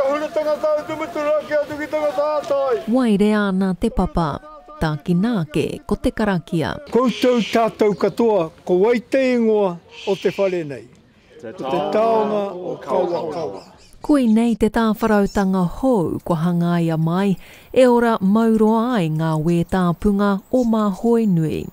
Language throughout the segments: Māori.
Huri tangata atu mutunga ki a Tuki tangata a Tai. Waerea ana te papa. Takina ake ko te karakia. Koutou tatou katoa ko wai te ingoa o te whare nei? Ko te taonga o Kawakawa. Koinei te tāwharautanga hou kua hangaia mai e ora mauroa ai ngā wētāpunga o Māhoenui.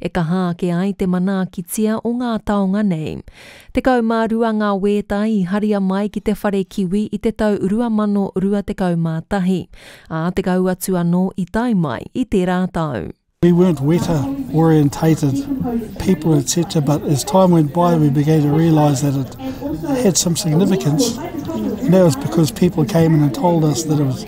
e kaha ake ai te manaakitia o ngā taonga nei. Tekau mā rua ngā wēta i haria mai ki te whare kiwi i te tau 2021, ā, tekau atu anō i tae mai i tērā tau. We weren't weta orientated people etc but as time went by we began to realise that it had some significance and that was because people came in and told us that it was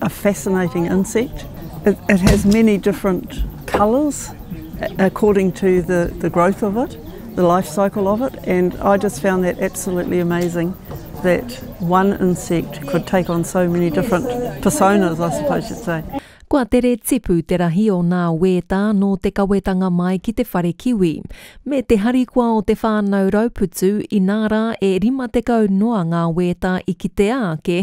A fascinating insect. It it has many different colours according to the the growth of it, the life cycle of it and I just found that absolutely amazing that one insect could take on so many different personas I suppose you'd say. Kua tere tipu te rahi o nā wētā nō te kawetanga mai ki te whare kiwi, me te harikoa o te whānau Rauputu inā rā e 50 noa ngā wētā i kitea ake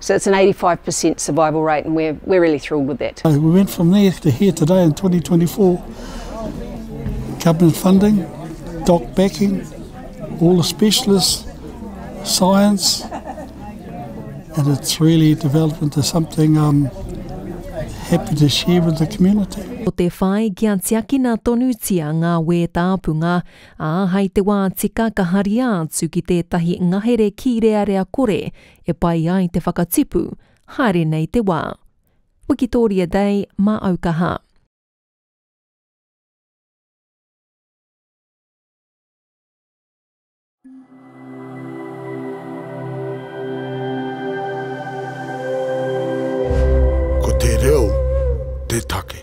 So it's an 85 per cent survival rate and we're, we're really thrilled with that. So we went from there to here today in 2024. Government funding, doc backing, all the specialists, science, and it's really developed into something um, happy to share with the community. Ko te whai kia tiakina tonutia ngā wē tāpunga, ā, hai te wā tika ka haria atu ki tētahi ngahere kīrearea kore e pai ai te whakatipu, haere nei te wā. Wikitoria Day mā au kaha. Ko te reo te take.